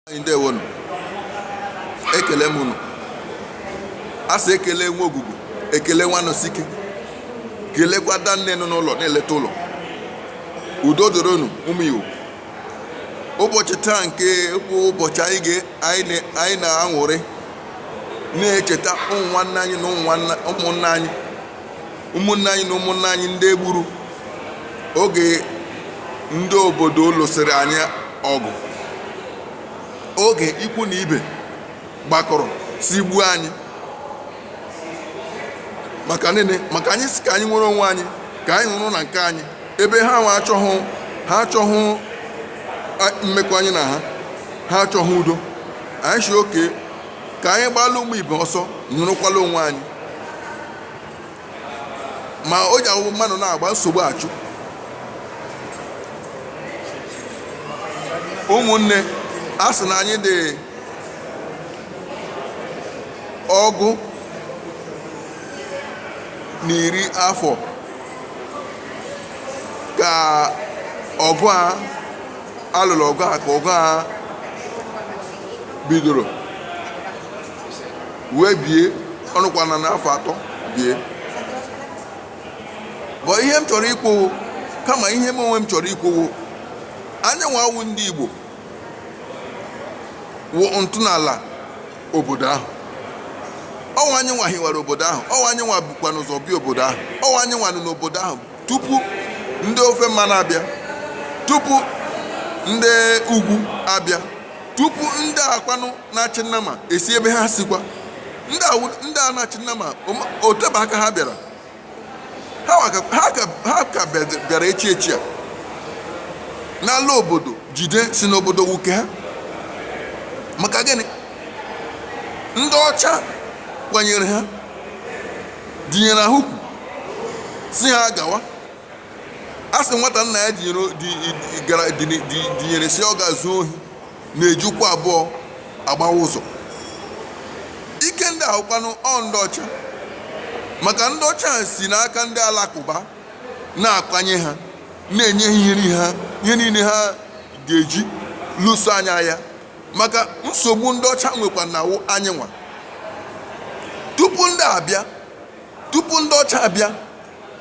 anyị ndewonu ekele m unu a sị ekele nwa ogugu ekele nwa nọsike kelekwa danne nọ n'ụlọ na-eleta ụlọ udo dịrị unu ụmụ Igbo ụbọchị taa nke bụ ụbọchị anyị ga- anyị na- anyị na-aṅụrị na-echeta ụmụ nwanne anyị na ụmụ nwanna- ụmụnna anyị ụmụnne anyị na ụmụnne anyị ndị e gburu oge ndị obodo lụsịrị anyị ọgụ oge ikwu na ibe gbakọrọ sị gbuo anyị maka nene maka anyị sị ka anyị nwere onwe anyị ka anyị nọrọ na nke anyị ebe ha nwa achọghị ha achọghị a- mmekọ anyị na ha ha achọghị udo anyị sị okay ka anyị gbalụ ụmụ ibe ọsọ nọrọkwala onwe anyị ma o ji awụ mmadụ na-agba nsogbu achụ ụmụnne a sị na anyị dị ọgụ na iri afọ ka ọgụ a a lụrụ ọgụ a ka ọgụ a bidoro wee bie ọ nọkwana n'afọ atọ bie but ihe m chọrọ ikwu wụ kama ihe m onwe m chọrọ ikwu wụ anyị nwa wụ ndị Igbo wụ ntọala obodo ahụ ọ wụ anyị nwa hiwara obodo ahụ ọ wụ anyị nwa bukwanụ ụzọ bịa obodo ahụ ọ wụ anyị nwa nọ n'obodo ahụ tupu ndị ofe mmanụ abịa tupu ndị ugwu abịa tupu ndị a kwanụ na-achị nnama esi ebe ha sikwa ndị a wụ- ndị a na-achị nnama oma- o tebe aka ha bịara ha wa ka- ha ka- ha ka bịa- bịara echi echi a n'ala obodo jide sị na obodo wụ ke ha maka gịnị ndị ọcha kwanyere ha dinyere ha ukwu sị ha gawa a sị nwata nna ya dinyere di- di- gara- di- di- dinyere sị ọ gaa zuo ohi na-eji ụkwụ abụọ agbawa ụzọ ike ndị a wụkwanụ ọ ndị ọcha maka ndị ọcha a si n'aka ndị alakụba na-akwanye ha na-enye ha ihe niile ha ihe niile ha ga-eji lụso anyị agha maka nsogbu ndị ọcha nwekwana wụ anyị nwa tupu ndị abịa tupu ndị ọcha abịa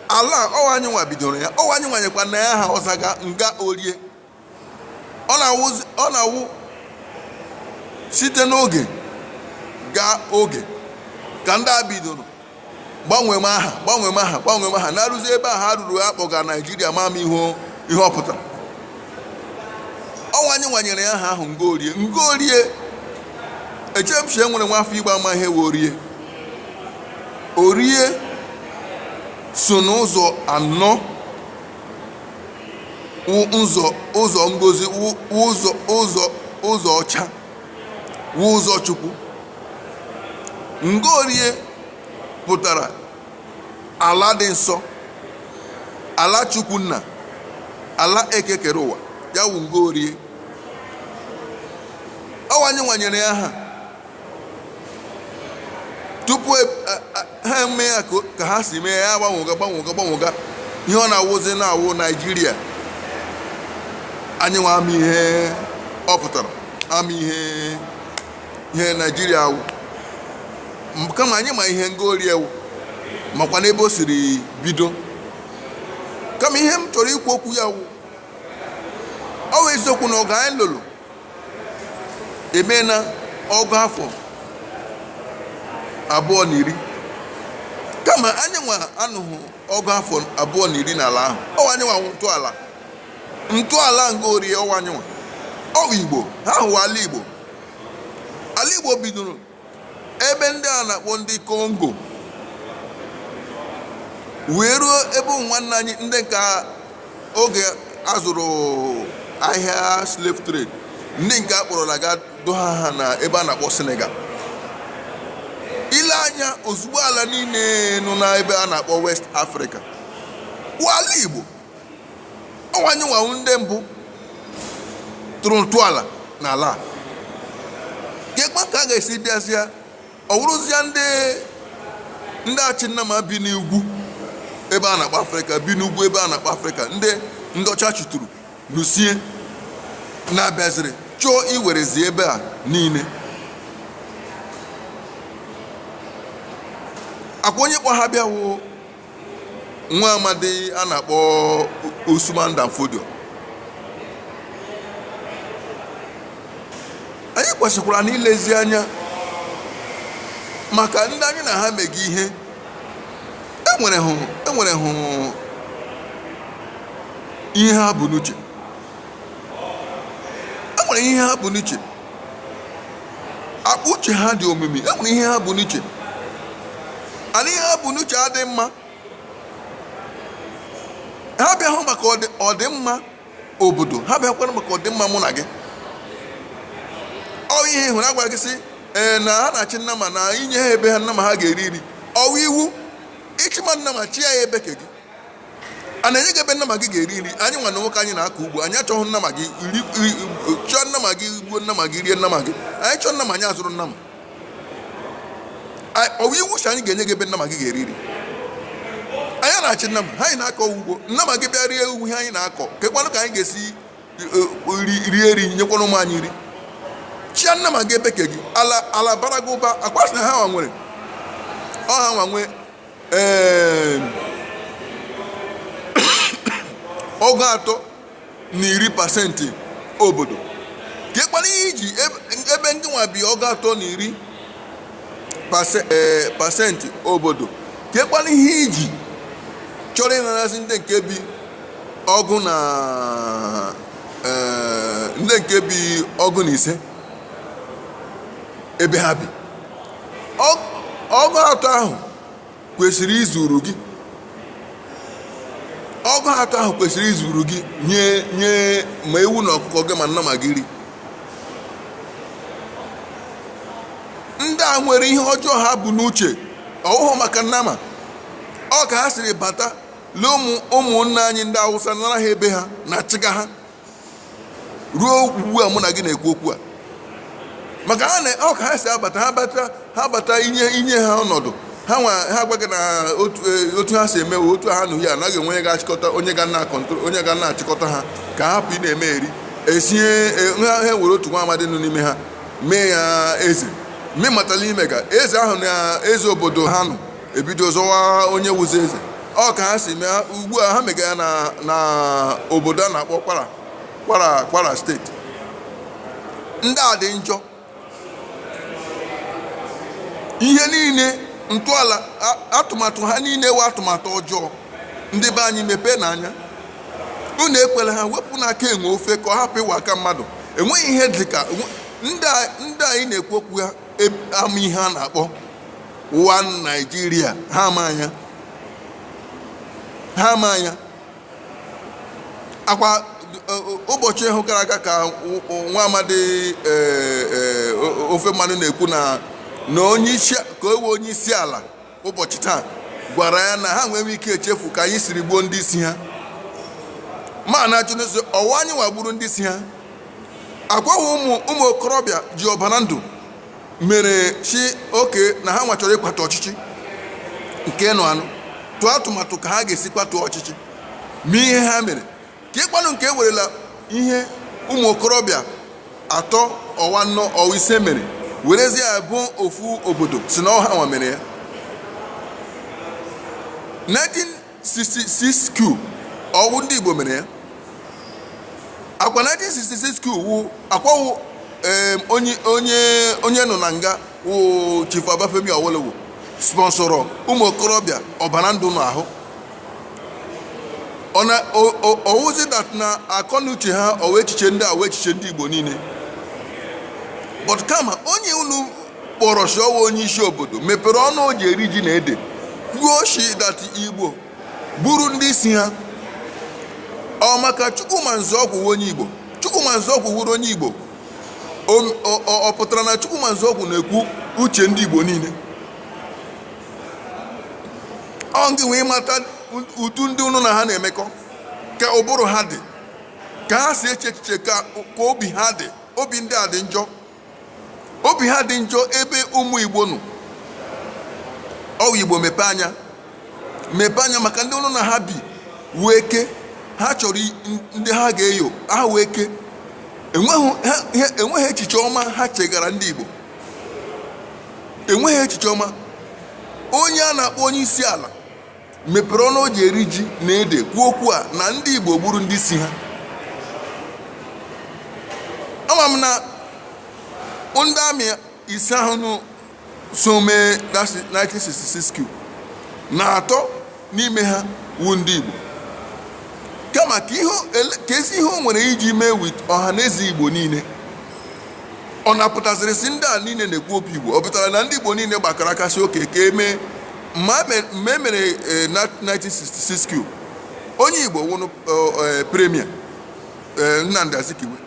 ala a, ọ wụ anyị nwa bidoro ya ọ wụ anyị nwa nyekwana ya aha ọ zaga nga orie ọ na-awụzi- ọ na-awụ site n'oge gaa oge ka ndị a bidoro gbanwee m aha gbanwee m aha gbanwee m aha na-arụzi ebe a ha ruru a kpọga naijiria ama m ihe ihe ọ pụtara ọ wụ anyị nwa nyere ya aha ahụ ngorie ngorie eche m chie nwere nwa afọ igbo ama ihe wụ orie orie so n'ụzọ anọ wụ ụzọ ụzọ ngozi wụ ụzọ ụzọ ụzọ ọcha wụ ụzọ Chukwu. Ngorie pụtara ala dị nsọ, ala Chukwu nna, ala eke kere ụwa, ya wụ Ngorie. Ọ wụ anyị nwa nyere ya aha tupu e- a- a- ha eme ya ka o- ka ha si mee ya gbanwega gbanwega gbanwega ihe ọ na-awụzi na-awụ naijiria anyị nwa ama ihe ọ pụtara ama ihe ihe naijiria wụ M- kama anyị ma ihe ngorie wụ makwa n'ebe o siri bido kama ihe m chọrọ ikwu okwu ya wụ ọ wụ eziokwu na ọgụ anyị lụrụ emena ọgụ afọ abụọ na iri kama anyị nwa anọghị ọgụ afọ abụọ na iri n'ala ahụ ọ wụ anyị nwa wụ ntọala ntọala nga orie ọ wụ anyị nwa wụ igbo ha ahụ wụ ala igbo ala igbo bidoro ebe ndị a na-akpọ ndị kongo wee ruo ebe ụmụ nwanne anyị ndị nke a oge a zụrụ ahịa slave trade ndị nke a kpọrọla ga doha ha na ebe a na-akpọ senegal i lee anya ozugbo ala niile nọ n'ebe a na-akpọ west africa wụ ala igbo ọ wụ anyị nwa wụ ndị mbụ tụrụ ntọala n'ala a kekwa ka a ga-esi bịazịa ọ wụrụzịa ndị ndị achị nnama bi n'ugwu ebe a na-akpọ afrịka bi n'ugwu ebe a na-akpọ afrịka ndị ndị ọcha chụtụrụ lusie na-abịaziri chọọ iwerezi ebe a niile ọ kwa onye kpọ ha bịa wụ nwa amadi a na-akpọ Usman Dan Fodio anyị kwesịkwara na ilezi anya maka ndị anyị na ha mega ihe enwere hụ enwere hụ ihe ha bu n'uche enwere ihe ha bu n'uche akpa uche ha dị omimi e nwere ihe ha bu n'uche and ihe ha bu n'uche adị mma ha bịahụ maka ọdị- ọdịmma obodo ha bịakwara maka ọdịmma mụ na gị ọ wụ ihe hụrụ a gwara gị sị ee na ha na-achị nnama na inye ha ebe ha nnama ha ga-eri iri ọ wụ iwu ị chịma nnama chịa ya ebe ke gị a na-enye gị ebe nnama gị ga-eri nri anyị nwa na nwoke anyị na-akọ ugbo anyị achọghị nnama gị iri iri- chọọ nnama gị gbuo nnama gị rie nnama gị anyị chọọ nnama anyị azụrụ nnama Anyị- ọ bụ iwu sị anyị ga-enye gị ebe nnama gị ga-eri nri anyị ana achị nnama ha anyị na-akọ ugbo nnama gị bịa rie ugwu ihe anyị na-akọ kekwanụ ka anyị ga-esi eh, ri- rie iri nyekwanụ ụmụ anyị nri chịa nnama gị ebe ke gị ala ala bara gị ụba akwasị na ha nwa nwere ọ ha nwa nwee ee ọgụ atọ na iri pasentị obodo kekwanụ ihe i ji ebe- ebe ndị nwa bi ọgụ atọ na iri pase- ee, pasentị obodo kekwanụ ihe i ji chọrọ ịnarazi ndị nke bi ọgụ na ee, ndị nke bi ọgụ na ise ebe ha bi Ọ- ọgụ atọ ahụ kwesịrị izuru gị ọgụ atọ ahụ kwesịrị izuru gị nye nye ma ewu na ọkụkọ gị ma nnama gị iri ndị a nwere ihe ọjọọ ha bu n'uche ọwụhụ maka nnama ọ ka ha siri bata lee ụmụ ụmụnna anyị ndị Awụsa nara ha ebe ha na-achịga ha ruo ugbu a mụ na gị na-ekwu okwu a maka ha na ọ ka ha si abata ha bata ha bata i nye i nye ha ọnọdụ ha nwa ha agwa gị na otu eh, otu ha si eme wee otu ha nụ ya anaghị enwe onye ga-achịkọta onye ga na control onye ga na-achịkọta ha ka ha hapụ ịna-eme eri ị sị eh, ha ha ewere otu nwa amadi nọ n'ime ha mee ya eze mmematala ime ka eze ahụ na eze obodo ha nọ ebido zọwa onye wụzi eze ọ ka ha si eme ha ugbu a ha mega ya na na obodo a na-akpọ Kwara Kwara Kwara steeti ndị a dị njọ ihe niile ntọala a- atụmatụ ha niile wụ atụmatụ ọjọọ ndị be anyị mepeenụ anya unu ekwela ha wepụnụ aka enwe ofe ka ọ hapụ ịwụ aka mmadụ enweghị ihe dị ka ndị a- ndị anyị na-ekwu okwu ha ama ihe a na-akpọ one Nigeria ha ama anya ha ama anya ọ kwa ụbọchị ahụ gara aga ka nwa amadi e, e, ofe mmanụ na-ekwu na na onye isi ke wụ onye isi ala ụbọchị taa gwara ya na ha nweghị ike echefu ka anyị siri gbuo ndị isi ha mana ajụ n'ezie ọwụ anyị nwa gburu ndị isi ha akwa wụ ụmụ ụmụ okorobịa ji ọbara ndụ mere si okay na ha nwa chọrọ ịkwatu ọchịchị nke nọnụ tụọ atụmatụ ka ha ga-esi kwatuo ọchịchị mee ihe ha mere keekwanụ nke e werela ihe ụmụ okorobịa atọ ọwụ anọ ọwụ ise mere werezie ya bo ofu obodo si na ọwụ ha nwa mere ya 1966 coup ọwụ ndị igbo mere ya akwa 1966 coup wụ akwa wụ em, onye onye onye nọ na nga wụ Chief Obafemi Awolowo sponsọrọ ụmụ okorobịa ọbara ndụ n'ahụ ọ na ọ- ọ- ọwụzi that na akọnuche ha ọwụ echiche ndị a wụ echiche ndị igbo niile but kama onye unu kpọrọ si ọwụ onye isi obodo mepere ọnụ o ji eri ji na ede kwuo shi that igbo gburu ndị isi ha ọ maka chukwuma Nzeogwu wụ onye igbo chukwuma Nzeogwu wụrụ onye igbo O- ọ- ọ ọ pụtara na chukwuma Nzeogwu na-ekwu uche ndị igbo niile ọ gị wee mata ụdị ndị unu na ha na-emekọ ka ụbụrụ ha dị ka ha si eche echiche ka ka obi ha dị obi ndị a dị njọ obi ha dị njọ ebe ụmụ igbo nọ nwa igbo mepe anya mepe anya maka ndị unu na ha bi wee ke ha chọrọ i- n- ndị ha ga-eyo ha wee ke enweghị ha- ha- enweghị echiche ọma ha chegara ndị igbo enweghị echiche ọma onye a na-akpọ onye isi ala mepere ọnụ o ji eri ji na ede kwuo okwu a na ndị igbo gburu ndị isi ha ama m na ndị army ise ahụnụ so mee 1966 coup na atọ n'ime ha wụ ndị Igbo kama ka ihe ele- ka ezi ihe o nwere iji mee with ọha na eze Igbo niile ọ na-apụtaziri si ndị a niile na-ekwu obi Igbo ọ pụtara na ndị Igbo niile gbakọrọ aka si okay ka e mee mma me- mgbe e mere eh, na 1966 coup onye Igbo wụrụ premier Nnamdi Azikiwe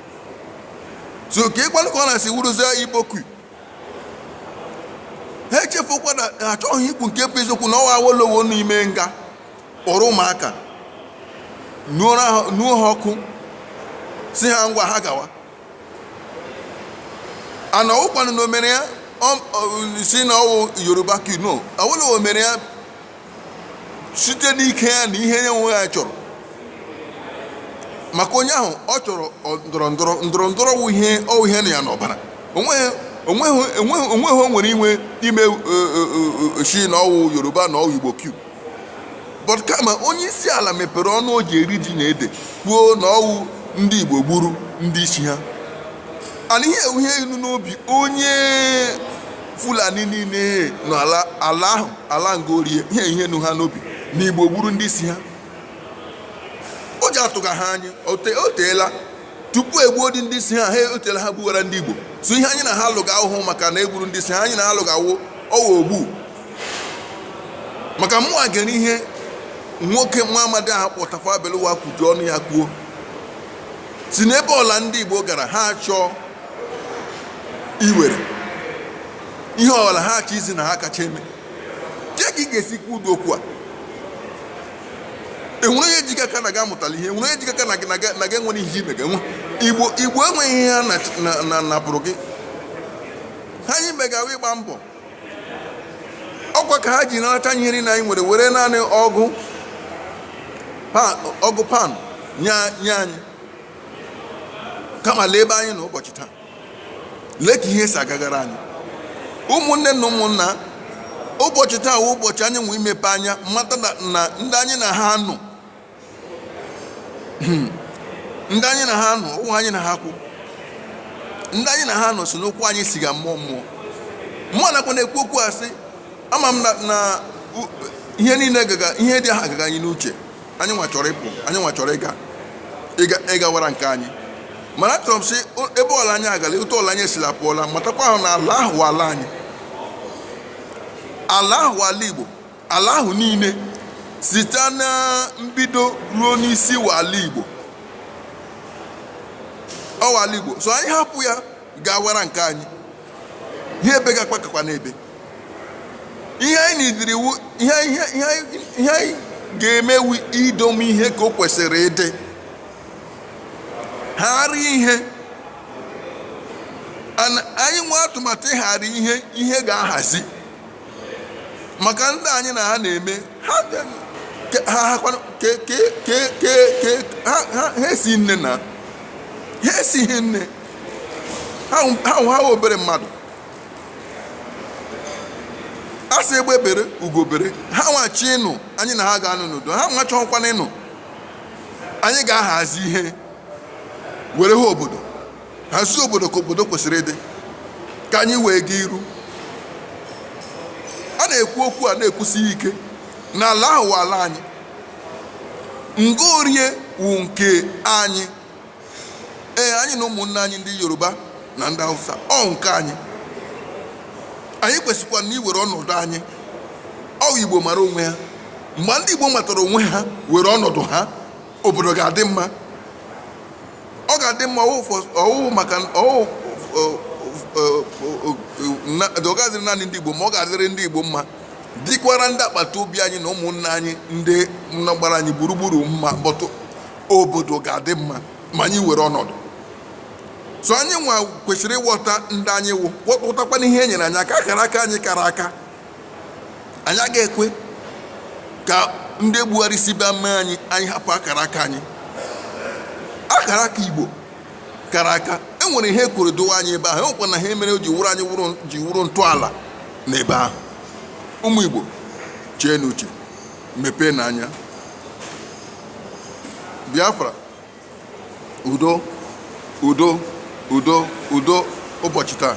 so keekwanụ ka ọ na-esi wụrụzie Igbo coup ha echefukwa na ha achọghị ikwu nke bụ eziokwu na ọwụ Awolowo n'ime nga kpọrọ ụmụaka nuoro ha- nuo ha ọkụ si ha ngwa ha gawa and ọwụkwanụ na o mere ya ọ- ọ- si na ọwụ Yoruba coup no Awolowo mere ya site n'ike ya na ihe ya onwe ya chọrọ maka onye ahụ ọ chọrọ ọ- ndọrọ ndọrọ ndọrọ ndọrọ wụ ihe ọwụ ihe nọ ya n'ọbara onweghị onweghị onweghị onweghị o nwere inwe ime eh, eh, eh, eh, shi na ọwụ yoruba na ọwụ igbo coup but kama onye isi ala mepere ọnụ o ji eri ji na ede kwuo na ọwụ ndị igbo gburu ndị isi ha and ihe a wụ ihe nọ n'obi onye fulani niile n'ala ala ahụ ala nga orie ihe ihe nọ ha n'obi na igbo gburu ndị isi ha o ji atụga ha anyị o te- o teela tupu egbuo dị ndị isi ha ha oteela ha gbuwara ndị igbo so ihe anyị na ha alụga awụhụ maka na egburu ndị isi ha anyị na ha alụga wo ọwa ogbu maka mụnwa gere ihe nwoke nwa amadi ahụ a kpọ tafawa balewa kwuju ọnụ ya kwuo sị na ebe ọla ndị igbo gara ha achọọ iwere ihe ọbụla ha achọ izi na ha kacha eme kee ka ị ga-esi kwuo ụdị okwu a enwere onye ji gị aka na gị amụtala ihe enwere onye ji gị aka na gị na gị na gị enwere ihe ime ga-enwe igbo igbo enweghị ihe ha na- na- na napụrụ gị ihe anyị mega wụ ịgba mbọ ọkwa ka ha ji narachaa anyị ihe niile anyị nwere were naanị ọgụ pan ọgụ pan nye nye anyị kama lee ebe anyị nọ ụbọchị taa lee ka ihe si agagara anyị ụmụnne na ụmụnna ụbọchị taa wụ ụbọchị anyị nwe imepe anya mata na na ndị anyị na ha nọ ndị anyị na ha nọ ụmụ anyị na ha kwụ ndị anyị na ha nọ so na-akpọ anyị asị gaa mmụọ mmụọ mmụọ nakwa na-ekwu okwu asị ama m na na u- ihe niile gaga ihe ndị a agaga anyị n'uche anyị nwa chọrọ ịpụ anyị nwa chọrọ ịga ịga ịgawara nke anyị mana achọrọ m ịsị o- ebe ọla anyị agala otu ọla anyị esila pụọla matakwa ahụ na ala ahụ wụ ala anyị ala ahụ wụ ala igbo ala ahụ niile site na mbido ruo n'isi wụ ala igbo ọ wụ ala igbo so anyị hapụ ya gawara nke anyị ihe ebega akwa kakwa n'ebe ihe anyị needịrị wụ ihe ihe ihe anyị- ihe anyị ga-eme wụ idome ihe ka o kwesịrị ịdị ghara ihe Ana- anyị nwee atụmatụ ịghara ihe ihe ga-ahazi maka ndị anyị na ha na-eme ha bịa- ke- ha ha kwanụ- ke- ke- ke- ke- ke- ha ha- ha esi nne na ha esighị nne ha wụ ha obere mmadụ a sị egbe bere ugo bere ha nwa chọọ ịnọ anyị na ha ga-anọ n'udo ha nwa achọkwana ịnọ anyị ga-ahazi ihe were ha obodo hazie obodo ka obodo kwesịrị ịdị ka anyị wee gaa iru a na-ekwu okwu a na-ekwusi ike na ala ahụ wụ ala anyị nigeria wụ nke anyị ee anyị na ụmụnne anyị ndị yoruba na ndị hausa ọ wụ nke anyị anyị kwesịkwa na iwere ọnọdụ anyị ọ wụ igbo mara onwe ha mgbe ndị igbo matara onwe ha were ọnọdụ ha obodo ga-adị mma ọ ga-adị mma ọ wụghị maka ọ wụghị ọ ga-adịrị naanị ndị igbo mma ọ ga-adịrị ndị igbo mma dịkwara ndị agbata obi anyị na ụmụnna anyị ndị nọ gbara anyị gburugburu mma but obodo ga-adị mma ma anyị were ọnọdụ so anyị nwa kwesịrị ịghọta ndị anyị wụ ghọtakwa n'ihe e nyere anyị aka akara aka anyị kara aka anyị agaghị ekwe ka ndị Buhari si bịa mee anyị anyị hapụ akara aka anyị akara aka Igbo kara aka e nwere ihe e kwuru dowe anyị ebe ahụ e nwekwana ihe mere ji wụrụ anyị ji wụrụ ntọala n'ebe ahụ ụmụ Igbo cheenụ uche mepeenụ anya biafra udo udo udo udo ụbọchị taa